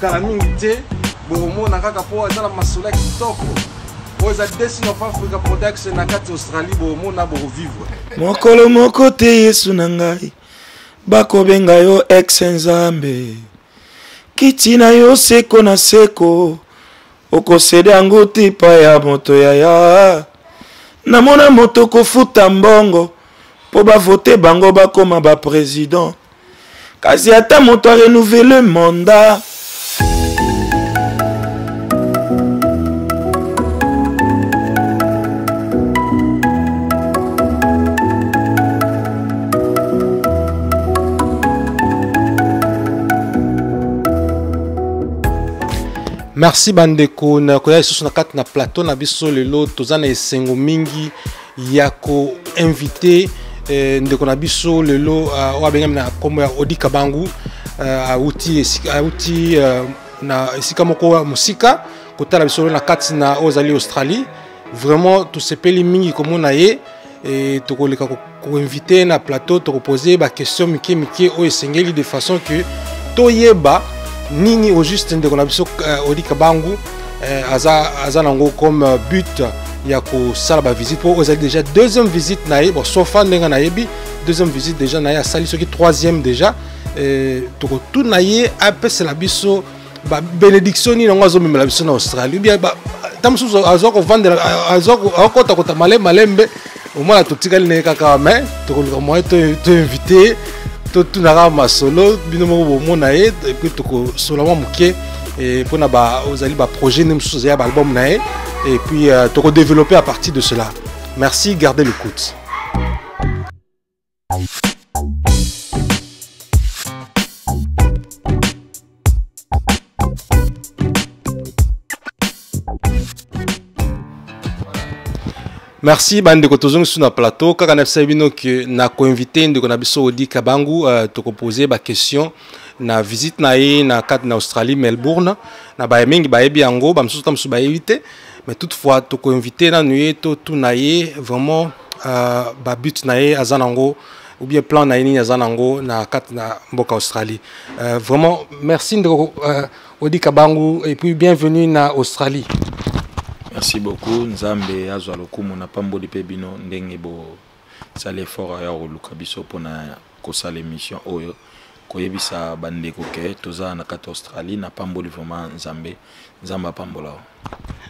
kala mingi te bokomona kaka mpo aza na masolo ya kitoko oyo eza destin of africa production na kati australie bokomona bokovivre mokolo moko te yesu na ngai bakobenga yo ex nzambe kiti na yo seko na seko okosede yango te epa ya moto yaya namona moto kofuta mbongo mpo bavote bango bakoma bapresident kasi ata moto arenouvele mandat merci bandeko nakoya lisusu na kati na plateau na biso lelo toza na esengo mingi ya ko inviter eh, ndeko na biso lelo uh, oyo abengami na nkombo ya odi kabangu uh, auti, auti uh, na esika moko ya mosika kotala biso lelo na kati na oyo ezali australie vraiment tosepeli mingi komona ye e, tokoleka koinvite ko na plateau tokopose baquestion mike mike oyo esengeli de façon que toyeba nini au juste ndeko na biso uh, odi kabangu eh, aza aza nango comme euh, but ya kosala bavisite mpo ozali déjà deuxième visite na ye bon sofa ndenge nayebi deuxième visite déjà na ye asali soki troisième déjà eh, tokotuna ye apesela biso babénédiction nini yango azomemela biso na australie ubien ta mosusu azwa kovandela azwa akota kota malembe malembe omwana totikali naye kaka me tokoluka moye toinvite totunaka masolo bino moko bomona ye epuis tokosola mwa moke mpo na ozali baprojet nde mosusu ozali ya baalbum na ye epuis euh, tokodeveloppe à partir de cela merci gardez le coute merci bandeko tozongi sur na plateau kaka na bisayi bino ke na koinvite ndeko na biso odi kabangu uh, tokopose baquestion na visite na ye na kati na australie melbourne na baye mingi bayebi yango bamosusu ta mosusu bayebi te mais toutefois toko inviter nanu ye to tuna ye vraiment euh, ba but na ye aza nango ou bien plan na ye nini aza nango na kati na mboka australie euh, vraiment merci ndeko euh, odi kabangu et puis bienvenue na australie merci beaucoup nzambe azwa lokumu na pamboli mpe bino ndenge bo sala effort aya koluka biso mpona kosala émission oyo koyebisa bandeko ke toza na kati australie napamboli vraiment nzambe nzambe apambola yo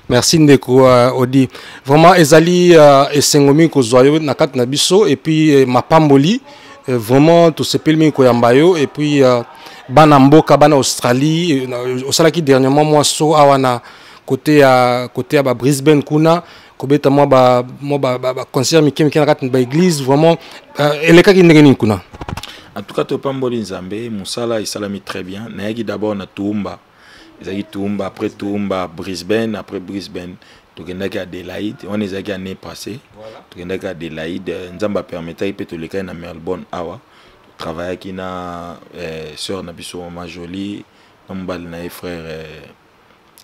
merci ndeko uh, odi vraiment ezali uh, esengo mingi kozwa yo na kati na biso epuis eh, mapamboli eh, vraiment tosepeli mingi koyamba yo epuis uh, bana mboka bana australie eh, osalaki dernièrement mwa so awa na kote ya kote ya ba brisbane kuna kobeta mwa ba mwa ba, ba, ba concert mike mike na kati ba église vraiment uh, elekaki ndenge nini kuna en tout cas topamboli nzambe mosala esalami très bien nayaki d'abord na tuumba ezalaki tuumba après tuumba brisbane après brisbane tokendaki adélaïde wana ezalaki année passé tokendaki adélaïde nzambe apermetaki mpe tolekaki na melbourne awa travaillaki na eh, sœur na biso mama jolie na mobali na ye frère eh,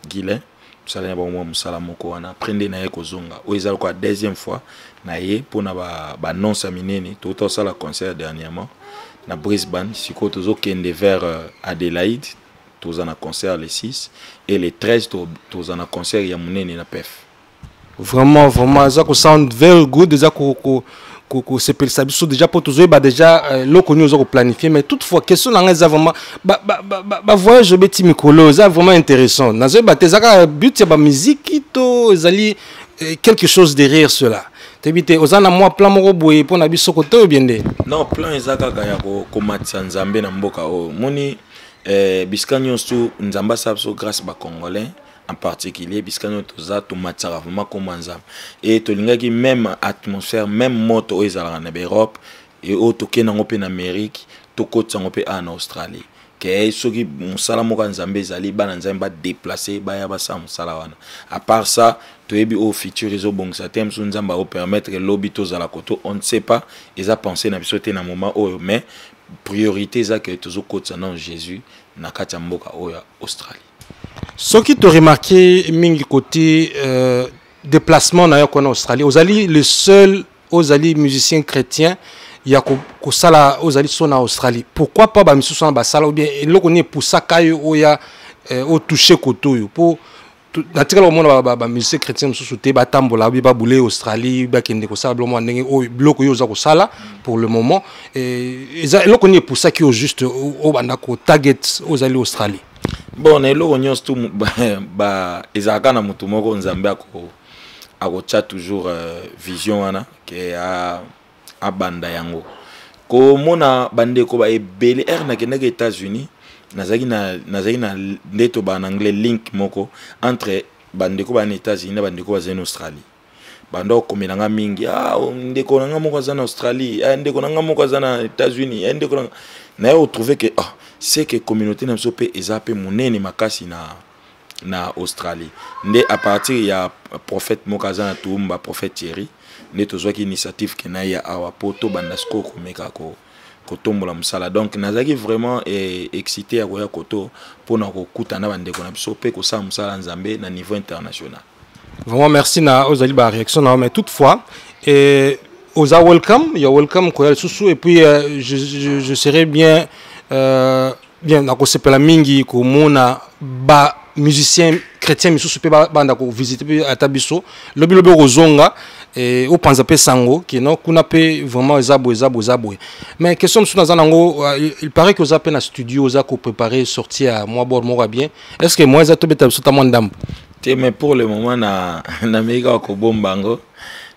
guilain mosala na bango mwa mosala moko wana après nde na ye kozonga oyo eza lokola deuxième fois na ye mpo na banonce ba ya minene touta kosala concert dernièrement na brisbane sikoyo tozokende vers euh, adélaïde toza na concert le 6 et le 13 toza na concert ya monene na pef vraiment vraiment eza ko sound very good eza ko, ko kosepelisa biso déjà mpo tozoyeba déjà euh, eloko nini oza koplanifie mais toutefois question na ngai eza vraiment bavoyage obeti mikolo eza vraiment intéressant nazoyeba te eza kaka but ya bamiziki to ezali euh, quelque chose derrière cela toyebi te oza na mwa plan moko boye mpo na biso kote oyo biende non plan eza kaka ya komatisa nzambe na mboka oyo moni eh, bisika nyonso nzambe asala biso grâce bacongolais en particulier bisika nioso toza tomatisaka vraimen nkombo ya nzambe e tolingaki meme atmosphère meme moto oyo ezalaka na baeurope e oyo tokenda yango mpe na amérique tokotisa yango mpe awa na australie ke soki mosala moko ya nzambe ezali bana nzambe badeplace baya basala mosala wana apart ça toyebi oyo futur ezobongisa te mosusu nzambe akopermettre lobi tozala koto on ne sait pas eza pensé na biso te na moment oyo mais priorité eza ke tozokotisa nano jésus na kati ya mboka oyo ya australie soki to remarquer mingi côté euh, déplacement na yo en Australie ozali le seul ozali musicien chrétien ya kosala ko ozali so na australie pourquoi pas bamisusu wana basala ou bien eloko nini epusaka yo oya eh, otouche kote oyo mpo natikala komona bamusicien ba, ba chrétien mosusu te batambola obi babule australie bakende kosala biloko mwa ndenge oyo biloko oyo oza kosala pour le moment eh, eza eloko nini epusaki yo juste obanda kotarget ozali australie bon na eloko nyonso tu ezalaka na motu moko nzambe akotya toujours euh, vision wana ke abanda yango komona bandeko ba ebele ere nakendaki états-unis nazalaki na, nazalaki na nde tobaa na anglais link moko entre bandeko baa na états-unis na bandeko bazali na australie banda okomela nga mingi ah, oh, ndeko na nga moko aza na australie eh, ndeko na nga moko aza na états-unis eh, ndeko na nga naye otrouve ke ah, se ke communauté na biso mpe eza mpe monene makasi na na australie nde à partir ya prophète moko aza na toumba prophète thierry nde tozwaki initiative ke na ye ya awa mpo tobanda sikoyo komeka ko kotombola mosala donc nazalaki vraiment eh, excité ya koya koto mpo na kokutana na bandeko na biso mpe kosala mosala nzambe na niveau international vraiment merci na ozali ba réaction na mais toutefois et oza welcome ya welcome koya lisusu et puis euh, je, je, je serai bien euh, bien nakosepela mingi komona ba musicien chrétien misusu mpe banda kovisite mpe ata biso lobilobi okozonga eh, opanza mpe sango kino kuna mpe vraiment eza boye eza boye eza boye mais question mosusu naza nango euh, il paraît que oza mpe na studio oza koprépare sorti ya mwa bor moko ya bien est ce que moyen eza tobeta biso ta mwa ndambo te mais pour le moment na nameki kaka kobomba yango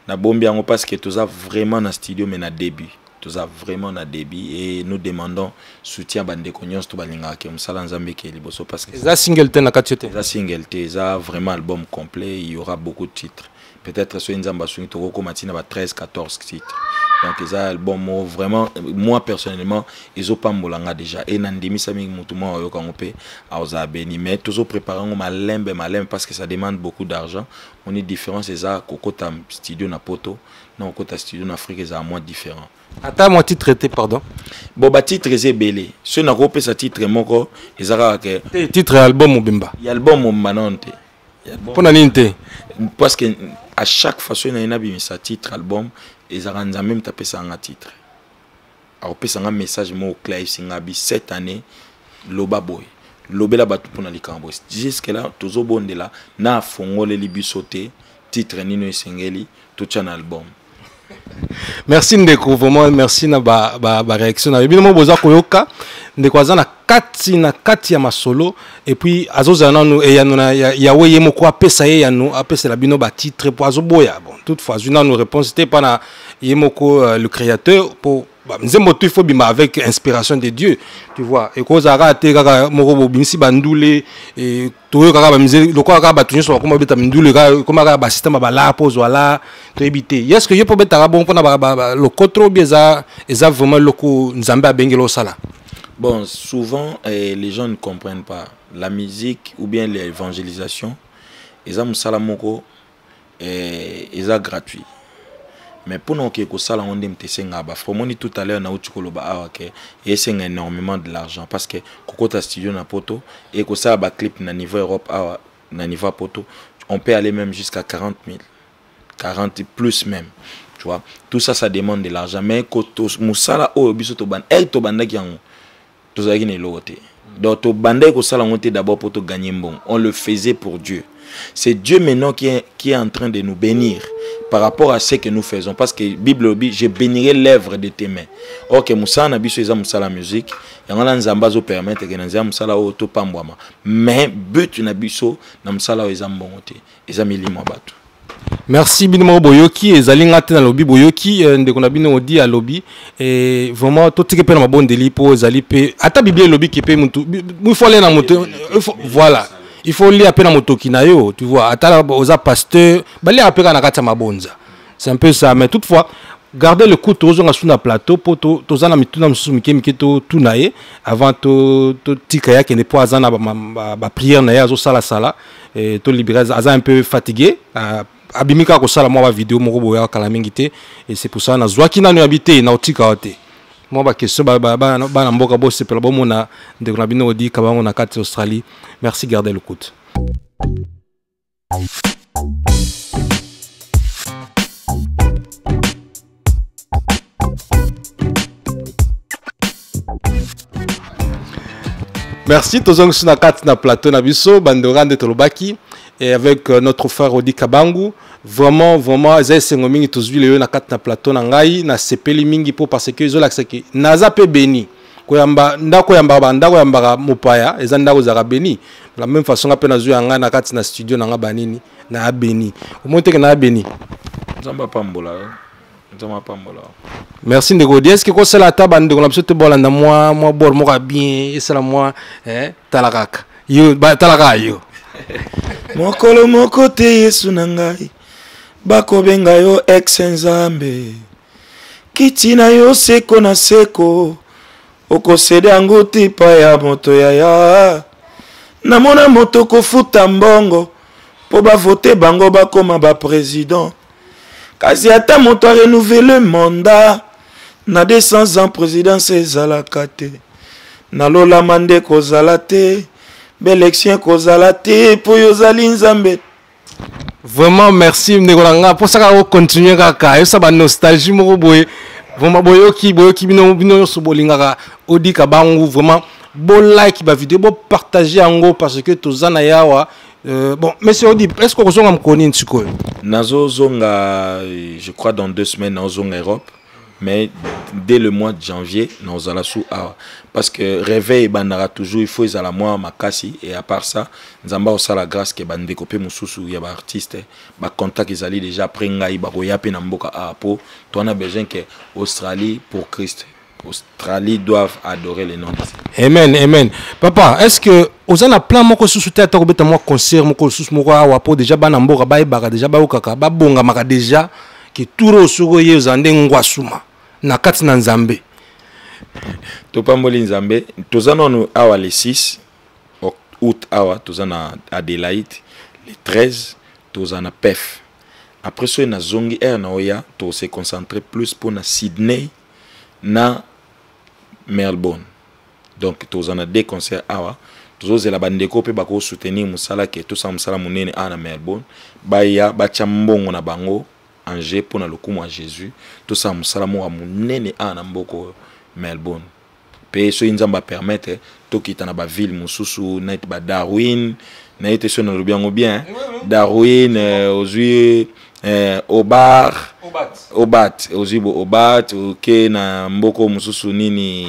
nabombi yango parce que toza vraiment na studio mais na début toza vraiment na début et nous demandons soutien bandeko nyonso to balingaka ke mosala nzambe ekeye liboso parce que eza single te na kati yo te eza single te eza vraiment album complet il y aura beaucoup de titres peut-être soki nzambe asungi tokokoma ntina ba 13 14 titre donc eza album moko vraiment moi personnellement ezopambola nga déjà e nandimisamiki motu mwa oyoka yango mpe aoza beni mais tozoprépare yango malembe malembe parce que ça demande beaucoup d'argent moni différence eza kokota studio na poto na kokota studio na afrique ezala mwa différent ata mwa titre te pardon bon batitre eza ebele soki nakopesa titre moko eza kaka ke titre ya album mobimba ya album mobimba nano te mpo na nini te parce que à chaque fois soki naye nabimisa titre album ezalaka nzambe moto apesaka nga titre akopesa nga message moko claise nga bi cette année loba boye lobela bato mpona likambo boye jusque là tozobondela na afongoleli biso te titre nini esengeli totia na album merci ndeko vraiment merci na ba, ba, ba réaction na yo bino mo boza koyoka ndeko aza na kati na kati ya masolo epuis azozala nanu eyano na yawe ye moko apesa ye yano apesela bino batitre mpo azoboya bon toute fois azwi nanu réponse te mpa na ye moko euh, le créateur mpo bah, nzembo tu faut bima avec inspiration de dieu tu vois ekozala kaka te kaka moko bobimisi bandule toyokaka bamizeli lokola kaka bato nyonso bakoma babeta mindule ekoma kaka basysteme balaa mpo ozwa la toyebi te yeske yo mpo obetaka bongo mpona lokotro bi eza eza vraiment eloko nzambe abengeli osala bon souvent eh, les gens ne comprennent pas la musique ou bien l'évangélisation eza mosala moko eh, eza gratuit mais mpo na oke kosala yango nde moto esengaka bafra omoni tout à l'heure nauti koloba awa ke esenga énormément de l'argent parce que kokota studio na poto e kosala baclip na niveau europe awa na niveau ya poto on peut aller même jusqu'à 40 000 40 plus même tu vois tout ça ça demande de l'argent mais mosala oyo biso tobanda eke eh, tobandaki yango tozalaki na eloko te donc tobandaki kosala yango te d'abord mpo toganye mbongo on le faisait pour dieu c'est dieu maintenant qui est, qui est en train de nous bénir par rapport à ce que nous faisons parce que bible lobi je bénirai l'œuvre de tes mains ok mosala na biso eza mosala musique yango wana nzambe azopermettre ke na nzela mosala oyo topambwama mais but na biso na mosala oyo eza mbongo te eza milimo ya bato merci bino moko boyoki ezali ngai te nalobi boyoki eh, ndeko na bino odi alobi eh, vraiment totiki mpe na mabondeli mpo ezali mpe ata biblia elobi ke mpe motu il faut alia na moto voilà il faut olia mpe na motoki na yo tu vois ata oza pasteur baliaka mpe kaka na kati ya mabonza c'est un peu ça mais toutefois garde le coup tozonga su na plateau mpo toza na mituna mosusu mike mike totuna ye avant totika ye akende mpo aza na bapriere na ye azosalasala eh, to libere aza un peu fatigue ah, abimi kaka kosala mwa bavideo moko boya kala mingi te et c'est pour ça nazwaki nanu yabi te naotika yo te mwa baquestion bana mboka bosepela bomona ndeko na bino odi kabango na kati australie merci garde locoute Merci, Tozong Sunakat na plateau na biso, Bandora de Tolobaki, et avec euh, notre frère Rodi Kabangu. Vraiment, vraiment, Zay Sengomingi, Tozui Leo na na plateau na ngai, na sepeli mingi po parce que Zola Seki, Naza pe béni. koyamba ndako yambaka bandako yambaka mopaya eza ndako ezalaka beni la même façon nga mpe nazwi yanga na kati na studio na nga banini na abeni omoni teke na abeni nzambe apambola yo nzambe apambola yo merci ndeko odi eske kosala ata bandeko na biso te bolanda mwa mwa bor moko ya bien esala mwa eh, tala kaka yo tala kaka yo mokolo moko te yesu na ngai bakobenga yo ex nzambe kiti na yo seko na seko okosede yango tipa ya moto yaya namona moto kofuta mbongo mpo bavote bango bakoma bapresident kasi ata moto arenouvele mandat na 200 ans présidence ezalaka te nalolama nde kozala te baelektio ekozala te mpo yo ozali nzambe vraiment merci ndeko na nga mposa kaka ocontinue kaka yosa banostalgie moko boye vraiment boyoki boyoki bino bino nyonso bolingaka odika bangu vraiment bolike bavideo bopartage yango parce que toza na yawa euh, bon monsieur odi est ce que okozonga mokoni nini sikoyo nazozonga je crois dans deux semaines naozonga europe mais dès le mois de janvier nazala su awa parce que réveil ebandaka toujours il faut ezala mwa makasi et à part ça nzambe akosala grâce ke bandeko mpe mosusu ya baartiste bacontact ezali déjà après ngai bakoya mpe na mboka awa mpo toana besoin ke australie pour christ australie doivent adorer le nom de amen amen papa est ce que oza na plan moko susu te ata kobeta mwa concert moko susu moko awa mpo déjà bana mboka bayebaka déjà bayokaka babongamaka déjà ke turo oyo soki oye ozala nde ngwasuma na kati na nzambe topamboli nzambe toza nanu awa le 6 août awa toza na adelaide le 13 toza na pef après soki nazongi aire na oya tose concentre plus mpo na sydney na melbourne donc toza na deux concert awa tozozela bandeko mpe bakosoutenir mosala ke tosala mosala monene awa na melbourne baya batya mbongo na bango en jeu mpo na lokumu ya jésus tosala mosala moko ya monene awa na mboka oyo melbourne mpe soki nzambe apermettre tokita na baville mosusu neti badarwin naye te soki nalobi yango bien darwin euh, ozwi eh, obar obat, obat. ozwi bo obat oke na mboko mosusu nini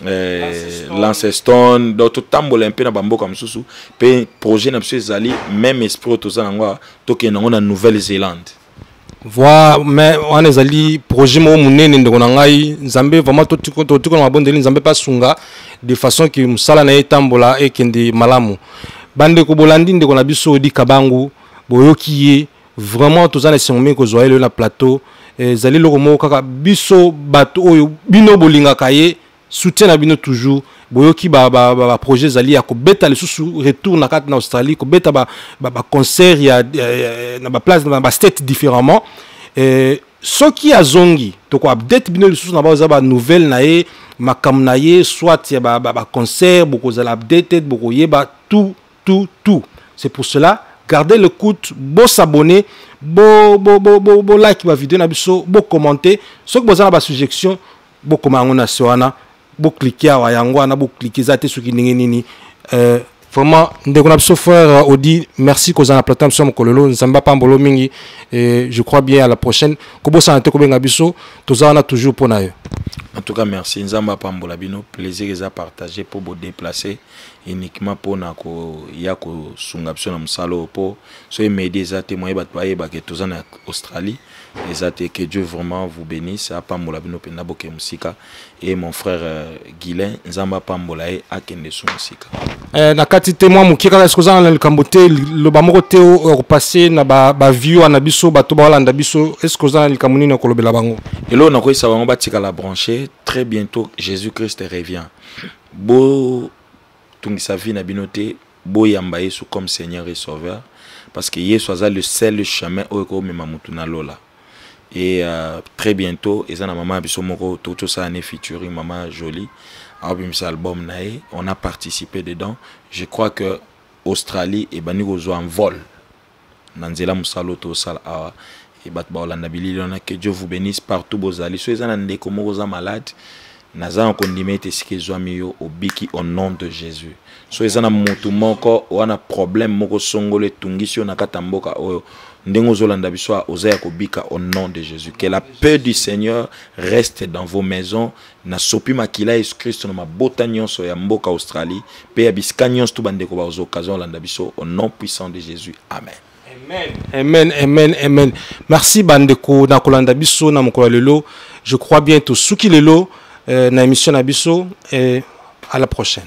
eh, lancestone donc totambola mpe na bamboka mosusu mpe projet na biso ezali même esprit oyo toza nango awa tokende yango na nouvelle zélande voi mais wana ezali projet moko monene ndeko na ngai nzambe vraiment totikona mabondeli nzambe mpe asunga de façon ke mosala na ye etambola ekende malamu bandeko bolandi ndeko na biso odi kabangu boyoki ye vraiment toza na esengo mingi kozwa ye lelo na plateau eh, ezali eloko moko kaka biso bato oyo bino bolingaka ye soutien na bino toujours boyoki baprojet ezali ya kobeta lisusu retour na kati na australie kobeta baconcert ya na baplace na bastate différemment eh, soki azongi toko update bino lisusu na bao eza banouvelle na ye makambo na ye soit ya baconcert bokozala updated bokoyeba tout tout tout c'est pour cela gardez le coute bo s'abonner bo bo bo bo, bo like ba vidéo na biso bo commenter soki boza na ba suggestion bo koma yango na se wana bo cliquer awa yango wana bo cliquer eza te soki ndenge nini euh, vraiment ndeko na biso frère euh, odi merci kozala na plateau biso ya mokolo lelo nzambe apambolo mingi et je crois bien à la prochaine kobosana te kobenga biso toza wana toujours mpo na yo en tout cas merci nzambe apambola bino plaisir eza partage mpo bodeplace uniquement pona koya kosunga biso na mosala oyo po soki medi eza te moye bato bayeba ke toza na australie eza te que dieu vraiment vous bénisse apambola bino mpenza bokee mosika e mon frère euh, guilin nzambe apambola ye akende su mosika eh, na kati te mwa moke kaka soki ozanga na likambo te loba moko te okopase na baview wana biso bato baolanda biso eske oza na likambo nini okolobela bango eloo nakoyisa bango batikala branche très bientôt jésus christ revient botungisa vie na bino te boyamba yesu comme seigneur et sauveur parce que yesu aza le seul chemin oyo ekomema motu na lola et euh, très bientôt eza na mama ya biso moko toki tosala ne featuring mama jolie aobimisa album na ye on a participé dedans je crois que australie ebandi kozwa envol na nzela mosala oyo tozosala awa e bato bakolanda bilili wana que dieu vous bénisse partout bozali so eza na ndeko moko oza malade naza na kondima ete esika ezwami yo obiki au nom de jésus so eza na motu moko wana problème moko songolo etungisi yo na kati ya mboka oyo ndenge ozolanda biso oza ya kobika au nom de jésus que la paix du seigneur reste dans vos maisons Nasopi makila ya Yesu Kristo na mabota nyonso ya mboka Australie pe ya bisika nyonso tu bandeko bakozwa occasion olanda biso au nom puissant de Jésus. Amen. Amen. Amen, amen, amen. Merci bandeko na kolanda biso na mokolo lelo. Je crois bien tosuki lelo euh, na émission na biso et à la prochaine.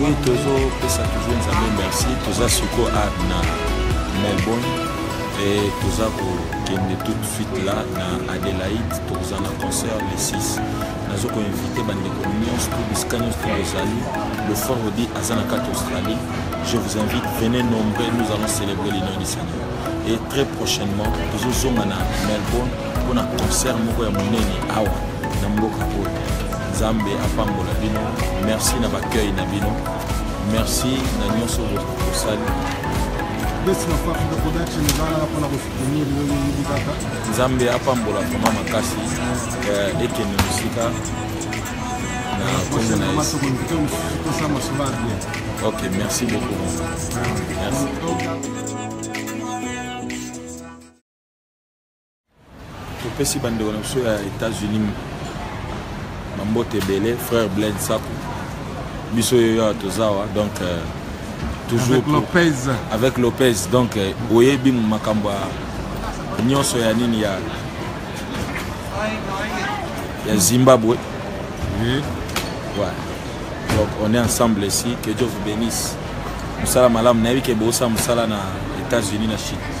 Oui, tozo pesa toujours nzambe merci toza siko art na melbourne e toza kokende tout de suite là na adélaïde tokozala na concert le 6 nazo koinvite bandeko nyonso to bisika nyonso to bozali le fort odi aza na kati australie je vous invite venez nombreux nous allons célébrer le nom du seigneur et très prochainement tozozonga na melbourne mpo na concert moko ya monene awa na mboka oyo nzambe apambola bino merci na bacueil na bino merci na nyonso bosali nzambe apambola vraimen makasi eh, ekende mosika na kombo na ye ok merci beaucoup merci topesi bandeko na biso ya états-unis bambote ebele frère blaine saku biso yo awa toza awa donc euh, toujours avec lopez avec lopez donc euh, oyebi makambo ya nyonso ya nini ya ya zimbabwe oui. ouais. donc on est ensemble ici que dieu vous bénisse mosala malamu nayebi ke boosa mosala na états-unis na chine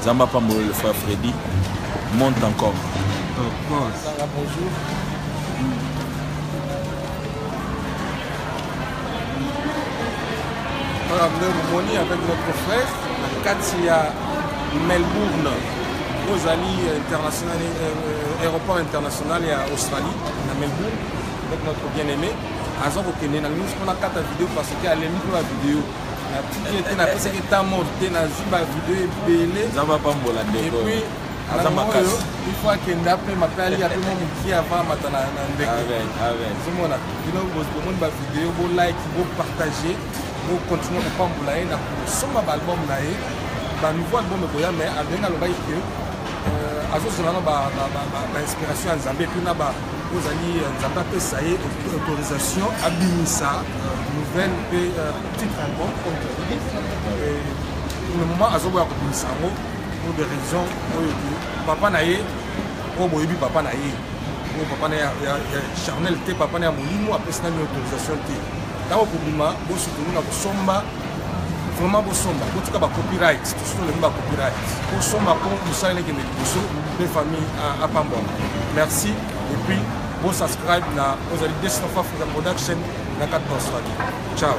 Nzambe apambola le frère Freddy. Monte encore. Of course. Sanga bonjour. Voilà, nous moni avec notre frère na kati ya Melbourne. Ozali international euh, euh, aéroport international ya Australie na Melbourne avec notre bien-aimé. aza kokende na nini mpona kata video parce que alembi mpe bavideo natiki ye te napesaki temps mort te nazwi bavideo ebele nzambe apambola ndeko epuis aza makasi il faut akenda mpe mape alia mpe mo mokie avant amata na ndeko ozomona bino bomoni bavideo bolike bopartage bocontinue kopambola ye na kosomba baalbum na ye banouveau album ekoya mais abengi alobaki ke euh, azozela na bainspiration ya nzambe epuis na ozali euh, nzambe apesa ye autorisation abimisa euh, nouvelle mpe euh, titre album oyotoyebi pour le moment azoboya kobimisa yango pour des raisons oyo papa na ye oyo boyebi papa na ye oyo papa na ya charnel te papa na ya molimo apesi nani autorisation te ntango kobima bosutulu na kosomba vraiment bosomba botika ba copyright tosi tolembi ba copyright bosomba mpo mosala elekende liboso mpe famille apambwama merci et puis bosubscribe na ozali destin of africa production na kati na australie ciao